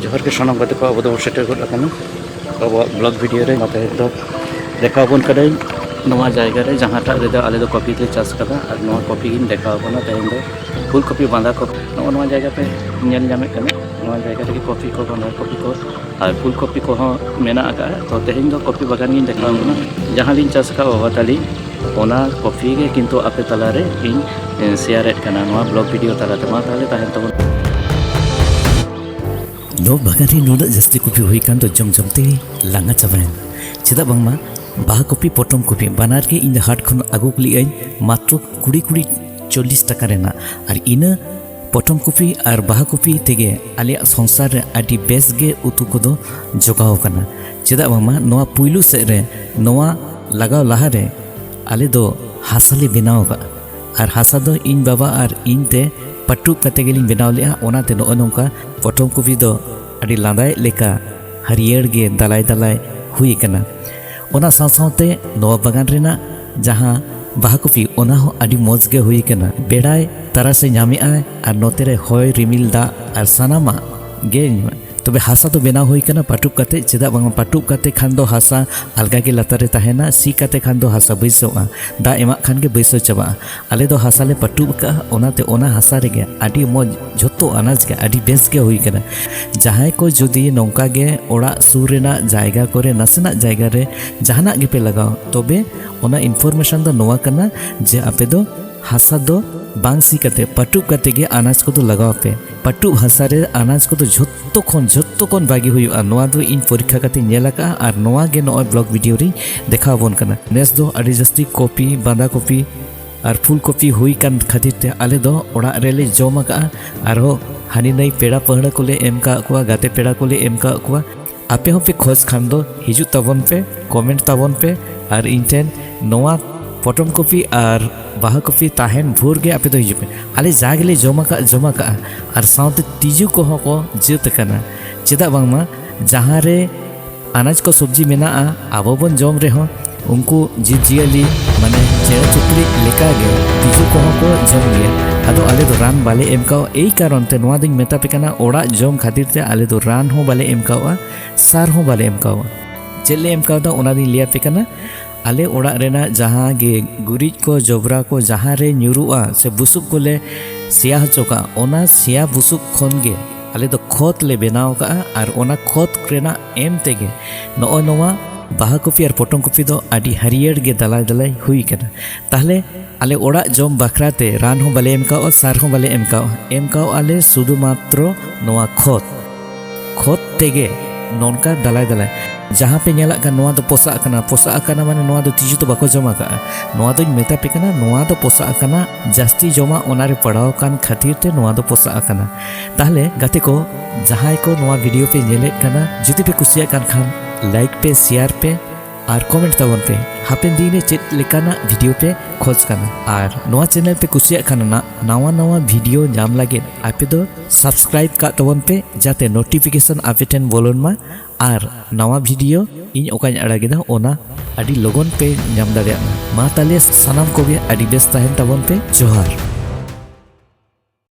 ᱡᱚᱦᱟᱨ ᱜᱮ ᱥᱟᱱᱟᱢ ᱜᱟᱛᱮ ᱠᱚ ᱟᱵᱚ ᱫᱚ ᱥᱮᱴᱮᱨ ᱜᱚᱫ ᱟᱠᱟᱱᱟ ᱟᱵᱚᱣᱟᱜ ᱵᱞᱚᱜ ᱵᱷᱤᱰᱤᱭᱳ ᱨᱮ ᱱᱚᱛᱮ ᱫᱚ ᱫᱮᱠᱷᱟᱣ ᱵᱚᱱ ᱠᱟᱹᱫᱟᱹᱧ ᱱᱚᱣᱟ ᱡᱟᱭᱜᱟ ᱨᱮ ᱡᱟᱦᱟᱸᱴᱟᱜ ᱨᱮᱫᱚ ᱟᱞᱮ ᱫᱚ ᱠᱚᱯᱤ ᱞᱮ ᱪᱟᱥ ᱠᱟᱫᱟ ᱟᱨ ᱱᱚᱣᱟ ᱠᱚᱯᱤ ᱜᱤᱧ ᱫᱮᱠᱷᱟᱣ ᱠᱟᱱᱟ ᱛᱮᱦᱮᱧ ᱫᱚ ᱯᱷᱩᱞ ᱠᱚᱯᱤ ᱵᱟᱸᱫᱷᱟ ᱠᱚᱯᱤ ᱱᱚᱜᱼᱚ ᱱᱚᱣᱟ ᱡᱟᱭᱜᱟ ᱯᱮ ᱧᱮᱞ ᱧᱟᱢᱮᱫ ᱠᱟᱱᱟ ᱱᱚᱣᱟ ᱡᱟᱭᱜᱟ ᱨᱮᱜᱮ ᱠᱚᱯᱤ ᱠᱚ ᱵᱟᱸᱫᱷᱟ ᱠᱚᱯᱤ ᱠᱚ ᱟᱨ ᱯᱷᱩᱞ ᱠᱚᱯᱤ ᱠᱚᱦᱚᱸ ᱢᱮᱱᱟᱜ ᱟᱠᱟᱫᱼᱟ ᱛᱚ ᱛᱮᱦᱮᱧ ᱫᱚ ᱠᱚᱯᱤ ᱵᱟᱜᱟᱱ ᱜᱤᱧ ᱫᱮᱠᱷᱟᱣ ᱵᱚᱱᱟ ᱡᱟᱦᱟᱸ ᱞᱤᱧ ᱪᱟᱥ ᱟᱠᱟᱫ ᱵᱟᱵᱟ ᱛᱟᱹᱞᱤ ᱚᱱᱟ ᱠᱚᱯᱤ ᱜᱮ ᱠᱤᱱᱛᱩ ᱟᱯᱮ ᱛᱟᱞᱟᱨᱮ ᱤᱧ ᱥᱮᱭᱟᱨᱮᱫ ᱠᱟᱱᱟ ᱱᱚᱣᱟ ᱵᱞᱚᱜ ᱵᱷᱤᱰᱤᱭᱳ ᱛᱟᱞᱟᱛᱮ ᱢᱟ ᱛᱟᱦᱚᱞᱮ ᱛᱟᱦᱮᱱ ᱛᱟᱵᱚᱱ ᱫᱚ ᱵᱟᱜᱟᱱ ᱨᱮ ᱱᱩᱱᱟᱹᱜ ᱡᱟᱹᱥᱛᱤ ᱠᱚᱯᱤ ᱦᱩᱭ ᱠᱟᱱ ᱫᱚ ᱡᱚᱢ ᱡᱚᱢ ᱛᱮ ᱞᱟᱸᱜᱟ ᱪᱟᱵᱟᱭᱮᱱ ᱪᱮᱫᱟᱜ ᱵᱟᱝᱢᱟ ᱵᱟᱦᱟ ᱠᱚᱯᱤ ᱯᱚᱴᱚᱢ ᱠᱚᱯᱤ ᱵᱟᱱᱟᱨ ᱜᱮ ᱤᱧ ᱫᱚ ᱦᱟᱴ ᱠᱷᱚᱱ ᱟᱹᱜᱩ ᱞᱮᱜᱼᱟᱹᱧ ᱢᱟᱛᱨᱚ ᱠᱩᱲᱤ ᱠᱩᱲᱤ ᱪᱚᱞᱞᱤᱥ ᱴᱟᱠᱟ ᱨᱮᱱᱟᱜ ᱟᱨ ᱤᱱᱟᱹ ᱯᱚᱴᱚᱢ ᱠᱚᱯᱤ ᱟᱨ ᱵᱟᱦᱟ ᱠᱚᱯᱤ ᱛᱮᱜᱮ ᱟᱞᱮᱭᱟᱜ ᱥᱚᱝᱥᱟᱨ ᱨᱮ ᱟᱹᱰᱤ ᱵᱮᱥ ᱜᱮ ᱩᱛᱩ ᱠᱚᱫᱚ ᱡᱚᱜᱟᱣ ᱟᱠᱟᱱᱟ ᱪᱮᱫᱟᱜ ᱵᱟᱝᱢᱟ ᱱᱚᱣᱟ ᱯᱩᱭᱞᱩ ᱥᱮᱫ ᱨᱮ ᱱᱚᱣᱟ ᱞᱟᱜᱟᱣ ᱞᱟᱦᱟ ᱨᱮ ᱟᱞᱮ ᱫᱚ ᱦᱟᱥᱟ ᱞᱮ ᱵᱮᱱᱟᱣ ᱟᱠᱟᱫᱼᱟ ᱟᱨ ᱦᱟᱥᱟ ᱫᱚ ᱤᱧ ᱵᱟᱵᱟ ᱟᱨ ᱤᱧ ᱛᱮ ᱯᱟᱹᱴᱩᱵ ᱠᱟᱛᱮ ᱜᱮᱞᱤᱧ ᱵᱮᱱᱟᱣ ᱞᱮᱫᱼᱟ ᱚᱱᱟᱛᱮ ᱱᱚᱜᱼᱚᱭ ᱱᱚᱝᱠᱟ ᱯᱚᱴᱚᱢ ᱠᱚᱯᱤ ᱫᱚ ᱟᱹᱰᱤ ᱞᱟᱸᱫᱟᱭᱮᱫ ᱞᱮᱠᱟ ᱦᱟᱹᱨᱭᱟᱹᱲ ᱜᱮ ᱫᱟᱞᱟᱭ ᱫᱟᱞᱟᱭ ᱦᱩᱭ ᱟᱠᱟᱱᱟ ᱚᱱᱟ ᱥᱟᱶ ᱥᱟᱶᱛᱮ ᱱᱚᱣᱟ ᱵᱟᱜᱟᱱ ᱨᱮᱱᱟᱜ ᱡᱟᱦᱟᱸ ᱵᱟᱦᱟ ᱠᱚᱯᱤ ᱚᱱᱟ ᱦᱚᱸ ᱟᱹᱰᱤ ᱢᱚᱡᱽ ᱜᱮ ᱦᱩᱭ ᱟᱠᱟᱱᱟ ᱵᱮᱲᱟᱭ ᱛᱟᱨᱟᱥᱮ ᱧᱟᱢᱮᱜᱼᱟᱭ ᱟᱨ ᱱᱚᱛᱮ ᱨᱮ ᱦᱚᱭ ᱨᱤᱢᱤᱞ ᱫᱟᱜ ᱟᱨ ᱥᱟᱱᱟᱢᱟᱜ ᱜᱮ ᱛᱚᱵᱮ ᱦᱟᱥᱟ ᱫᱚ ᱵᱮᱱᱟᱣ ᱦᱩᱭ ᱟᱠᱟᱱᱟ ᱯᱟᱴᱩᱵ ᱠᱟᱛᱮ ᱪᱮᱫᱟᱜ ᱵᱟᱝ ᱯᱟᱴᱩᱵ ᱠᱟᱛᱮ ᱠᱷᱟᱱ ᱫᱚ ᱦᱟᱥᱟ ᱟᱞᱜᱟ ᱜᱮ ᱞᱟᱛᱟᱨ ᱨᱮ ᱛᱟᱦᱮᱱᱟ ᱥᱤ ᱠᱟᱛᱮ ᱠᱷᱟᱱ ᱫᱚ ᱦᱟᱥᱟ ᱵᱟᱹᱭᱥᱟᱹᱜᱼᱟ ᱫᱟᱜ ᱮᱢᱟᱜ ᱠᱷᱟᱱ ᱜᱮ ᱵᱟᱹᱭᱥᱟᱹᱣ ᱪᱟᱵᱟᱜᱼᱟ ᱟᱞᱮ ᱫᱚ ᱦᱟᱥᱟ ᱞᱮ ᱯᱟᱹᱴᱩᱵ ᱟᱠᱟᱫᱼᱟ ᱚᱱᱟᱛᱮ ᱚᱱᱟ ᱦᱟᱥᱟ ᱨᱮᱜᱮ ᱟᱹᱰᱤ ᱢᱚᱡᱽ ᱡᱷᱚᱛᱚ ᱟᱱᱟᱡᱽ ᱜᱮ ᱟᱹᱰᱤ ᱵᱮᱥ ᱜᱮ ᱦᱩᱭ ᱠᱟᱱᱟ ᱡᱟᱦᱟᱸᱭ ᱠᱚ ᱡᱩᱫᱤ ᱱᱚᱝᱠᱟ ᱜᱮ ᱚᱲᱟᱜ ᱥᱩᱨ ᱨᱮᱱᱟᱜ ᱡᱟᱭᱜᱟ ᱠᱚᱨᱮ ᱱᱟᱥᱮᱱᱟᱜ ᱡᱟᱭᱜᱟ ᱨᱮ ᱡᱟᱦᱟᱱᱟᱜ ᱜᱮᱯᱮ ᱞᱟᱜᱟᱣ ᱛᱚᱵᱮ ᱚᱱᱟ ᱤᱱᱯᱷᱚᱨᱢᱮᱥᱚᱱ ᱫᱚ ᱱᱚᱣᱟ ᱠᱟᱱᱟ ᱡᱮ ᱟᱯᱮ ᱫᱚ ᱦᱟᱥᱟ ᱫᱚ ᱵᱟᱝ ᱥᱤ ᱠᱟᱛᱮ ᱯᱟᱹᱴᱩᱵ ᱠᱟᱛᱮ ᱜᱮ ᱟᱱᱟᱡᱽ ᱠᱚᱫᱚ ᱞᱟᱜᱟᱣ ᱯᱮ ᱯᱟᱴᱩ ᱵᱷᱟᱥᱟ ᱨᱮ ᱟᱱᱟᱡᱽ ᱠᱚᱫᱚ ᱡᱷᱚᱛᱚ ᱠᱷᱚᱱ ᱡᱷᱚᱛᱚ ᱠᱷᱚᱱ ᱵᱷᱟᱜᱮ ᱦᱩᱭᱩᱜᱼᱟ ᱱᱚᱣᱟ ᱫᱚ ᱤᱧ ᱯᱚᱨᱤᱠᱠᱷᱟ ᱠᱟᱛᱮ ᱧᱮᱞ ᱟᱠᱟᱜᱼᱟ ᱟᱨ ᱱᱚᱣᱟ ᱜᱮ ᱱᱚᱜᱼᱚᱭ ᱵᱞᱚᱜ ᱵᱷᱤᱰᱤᱭᱳ ᱨᱤᱧ ᱫᱮᱠᱷᱟᱣ ᱟᱵᱚᱱ ᱠᱟᱱᱟ ᱱᱮᱥ ᱫᱚ ᱟᱹᱰᱤ ᱡᱟᱹᱥᱛᱤ ᱠᱚᱯᱤ ᱵᱟᱸᱫᱟ ᱠᱚᱯᱤ ᱟᱨ ᱯᱷᱩᱞ ᱠᱚᱯᱤ ᱦᱩᱭ ᱠᱟᱱ ᱠᱷᱟᱹᱛᱤᱨ ᱛᱮ ᱟᱞᱮ ᱫᱚ ᱚᱲᱟᱜ ᱨᱮᱞᱮ ᱡᱚᱢ ᱟᱠᱟᱜᱼᱟ ᱟᱨᱦᱚᱸ ᱦᱟᱹᱱᱤ ᱱᱟᱹᱭ ᱯᱮᱲᱟ ᱯᱟᱹᱦᱲᱟᱹ ᱠᱚᱞᱮ ᱮᱢ ᱠᱟᱜ ᱠᱚᱣᱟ ᱜᱟᱛᱮ ᱯᱮᱲᱟ ᱠᱚᱞᱮ ᱮᱢ ᱠᱟᱜ ᱠᱚᱣᱟ ᱟᱯᱮ ᱦᱚᱸᱯᱮ ᱠᱷᱚᱡᱽ ᱠᱷᱟᱱ ᱫᱚ ᱦᱤᱡᱩᱜ ᱛᱟᱵᱚᱱ ᱯᱮ ᱠᱚᱢᱮᱱᱴ ᱛᱟᱵᱚᱱ ᱯᱮ ᱟᱨ ᱤᱧ ᱴᱷᱮᱱ ᱱᱚᱣᱟ ᱯᱚᱴᱚᱢ ᱠᱚᱯᱤ ᱟᱨ ᱵᱟᱦᱟ ᱠᱚᱯᱤ ᱛᱟᱦᱮᱱ ᱵᱷᱳᱨ ᱜᱮ ᱟᱯᱮ ᱫᱚ ᱦᱤᱡᱩᱜ ᱯᱮ ᱟᱞᱮ ᱡᱟ ᱜᱮᱞᱮ ᱡᱚᱢ ᱟᱠᱟᱫ ᱡᱚᱢ ᱟᱠᱟᱫᱼᱟ ᱟᱨ ᱥᱟᱶᱛᱮ ᱛᱤᱡᱩ ᱠᱚᱦᱚᱸ ᱠᱚ ᱡᱟᱹᱛ ᱟᱠᱟᱱᱟ ᱪᱮᱫᱟᱜ ᱵᱟᱝᱢᱟ ᱡᱟᱦᱟᱸ ᱨᱮ ᱟᱱᱟᱡᱽ ᱠᱚ ᱥᱚᱵᱽᱡᱤ ᱢᱮᱱᱟᱜᱼᱟ ᱟᱵᱚ ᱵᱚᱱ ᱡᱚᱢ ᱨᱮᱦᱚᱸ ᱩᱱᱠᱩ ᱡᱤᱵᱽᱼᱡᱤᱭᱟᱹᱞᱤ ᱢᱟᱱᱮ ᱪᱮᱬᱮ ᱪᱩᱯᱲᱤ ᱞᱮᱠᱟᱜᱮ ᱛᱤᱡᱩ ᱠᱚᱦᱚᱸ ᱠᱚ ᱡᱚᱢ ᱜᱮᱭᱟ ᱟᱫᱚ ᱟᱞᱮ ᱫᱚ ᱨᱟᱱ ᱵᱟᱞᱮ ᱮᱢ ᱠᱟᱣᱟ ᱮᱭ ᱠᱟᱨᱚᱱ ᱛᱮ ᱱᱚᱣᱟ ᱫᱚᱧ ᱢᱮᱛᱟ ᱯᱮ ᱠᱟᱱᱟ ᱚᱲᱟᱜ ᱡᱚᱢ ᱠᱷᱟᱹᱛᱤᱨ ᱛᱮ ᱟᱞᱮ ᱫᱚ ᱨᱟᱱ ᱦᱚᱸ ᱵᱟᱞᱮ ᱮᱢ ᱠᱟᱣᱟ ᱥᱟᱨ ᱦᱚᱸ ᱵᱟᱞᱮ ᱮᱢ ᱠᱟᱣᱟ ᱪᱮᱫ ᱞᱮ ᱮᱢ ᱠᱟᱣᱫᱟ ᱚᱱᱟ ᱫᱚᱧ ᱞᱟᱹᱭ ᱟᱯᱮ ᱠᱟᱱᱟ ᱟᱞᱮ ᱚᱲᱟᱜ ᱨᱮᱱᱟᱜ ᱡᱟᱦᱟᱸ ᱜᱮ ᱜᱩᱨᱤᱡ ᱠᱚ ᱡᱚᱵᱽᱨᱟ ᱠᱚ ᱡᱟᱦᱟᱸ ᱨᱮ ᱧᱩᱨᱩᱜᱼᱟ ᱥᱮ ᱵᱩᱥᱩᱵ ᱠᱚᱞᱮ ᱥᱮᱭᱟ ᱦᱚᱪᱚ ᱠᱟᱜᱼᱟ ᱚᱱᱟ ᱥᱮᱭᱟ ᱵᱩᱥᱩᱵ ᱠᱷᱚᱱ ᱜᱮ ᱟᱞᱮ ᱫᱚ ᱠᱷᱚᱛ ᱞᱮ ᱵᱮᱱᱟᱣ ᱠᱟᱜᱼᱟ ᱟᱨ ᱚᱱᱟ ᱠᱷᱚᱛ ᱨᱮᱱᱟᱜ ᱮᱢ ᱛᱮᱜᱮ ᱱᱚᱜᱼᱚ ᱱᱚᱣᱟ ᱵᱟᱦᱟ ᱠᱚᱯᱤ ᱟᱨ ᱯᱚᱴᱚᱢ ᱠᱚᱯᱤ ᱫᱚ ᱟᱹᱰᱤ ᱦᱟᱹᱨᱭᱟᱹᱲ ᱜᱮ ᱫᱟᱞᱟᱭ ᱫᱟᱞᱟᱭ ᱦᱩᱭ ᱠᱟᱱᱟ ᱛᱟᱦᱞᱮ ᱟᱞᱮ ᱚᱲᱟᱜ ᱡᱚᱢ ᱵᱟᱠᱷᱨᱟ ᱛᱮ ᱨᱟᱱ ᱦᱚᱸ ᱵᱟᱞᱮ ᱮᱢ ᱠᱟᱣᱟ ᱥᱟᱨ ᱦᱚᱸ ᱵᱟᱞᱮ ᱮᱢ ᱠᱟᱣᱟ ᱮᱢ ᱠᱟᱣᱟ ᱞᱮ ᱥᱩᱫᱷᱩ ᱢᱟᱛᱨᱚ ᱱᱚᱣᱟ ᱠᱷᱚᱛ ᱠᱷᱚᱛ ᱛᱮᱜᱮ ᱱᱚᱝᱠᱟ ᱫᱟᱞᱟᱭ ᱫᱟᱞᱟᱭ ᱡᱟᱦᱟᱸ ᱯᱮ ᱧᱮᱞᱟᱜ ᱠᱟᱱᱟ ᱱᱚᱣᱟ ᱫᱚ ᱯᱚᱥᱟᱜ ᱟᱠᱟᱱᱟ ᱯᱚᱥᱟᱜ ᱟᱠᱟᱱᱟ ᱢᱟᱱᱮ ᱱᱚᱣᱟ ᱫᱚ ᱛᱤᱡᱩ ᱫᱚ ᱵᱟᱠᱚ ᱡᱚᱢ ᱟᱠᱟᱫᱼᱟ ᱱᱚᱣᱟ ᱫᱚᱧ ᱢᱮᱛᱟ ᱯᱮ ᱠᱟᱱᱟ ᱱᱚᱣᱟ ᱫᱚ ᱯᱚᱥᱟᱜ ᱟᱠᱟᱱᱟ ᱡᱟᱹᱥᱛᱤ ᱡᱚᱢᱟᱜ ᱚᱱᱟᱨᱮ ᱯᱟᱲᱟᱣ ᱟᱠᱟᱱ ᱠᱷᱟᱹᱛᱤᱨ ᱛᱮ ᱱᱚᱣᱟ ᱫᱚ ᱯᱚᱥᱟᱜ ᱟᱠᱟᱱᱟ ᱛᱟᱦᱞᱮ ᱜᱟᱛᱮ ᱠᱚ ᱡᱟᱦᱟᱸᱭ ᱠᱚ ᱱᱚᱣᱟ ᱵᱷᱤᱰᱤᱭᱳ ᱯᱮ ᱧᱮᱞᱮᱫ ᱠᱟᱱᱟ ᱡᱩᱫᱤ ᱯᱮ ᱠᱩᱥᱤᱭᱟᱜ ᱠᱟᱱ ᱠᱷᱟᱱ ᱞᱟᱭᱤᱠ ᱯᱮ ᱥᱮᱭᱟᱨ ᱯᱮ ᱟᱨ ᱠᱚᱢᱮᱱᱴ ᱛᱟᱵᱚᱱ ᱯᱮ ᱦᱟᱯᱮᱱ ᱫᱤᱱ ᱨᱮ ᱪᱮᱫ ᱞᱮᱠᱟᱱᱟᱜ ᱵᱷᱤᱰᱤᱭᱳ ᱯᱮ ᱠᱷᱚᱡᱽ ᱠᱟᱱᱟ ᱟᱨ ᱱᱚᱣᱟ ᱪᱮᱱᱮᱞ ᱯᱮ ᱠᱩᱥᱤᱭᱟᱜ ᱠᱟᱱᱟ ᱱᱟᱣᱟ ᱱᱟᱣᱟ ᱵᱷᱤᱰᱤᱭᱳ ᱧᱟᱢ ᱞᱟᱹᱜᱤᱫ ᱟᱯᱮ ᱫᱚ ᱥᱟᱵᱥᱠᱨᱟᱭᱤᱵ ᱠᱟᱜ ᱛᱟᱵᱚᱱ ᱯᱮ ᱡᱟᱛᱮ ᱱᱳᱴᱤᱯᱷᱤᱠᱮᱥᱚᱱ ᱟᱯᱮ ᱴᱷᱮᱱ ᱵᱚᱞᱚᱱ ᱢᱟ ᱟᱨ ᱱᱟᱣᱟ ᱵᱷᱤᱰᱤᱭᱳ ᱤᱧ ᱚᱠᱟᱧ ᱟᱲᱟᱜᱮᱫᱟ ᱚᱱᱟ ᱟᱹᱰᱤ ᱞᱚᱜᱚᱱ ᱯᱮ ᱧᱟᱢ ᱫᱟᱲᱮᱭᱟᱜ ᱢᱟ ᱢᱟ ᱛᱟᱦᱞᱮ ᱥᱟᱱᱟᱢ ᱠᱚᱜᱮ ᱟᱹᱰᱤ ᱵᱮᱥ ᱛᱟᱦᱮᱱ ᱛᱟᱵᱚᱱ ᱯᱮ ᱡᱚᱦᱟᱨ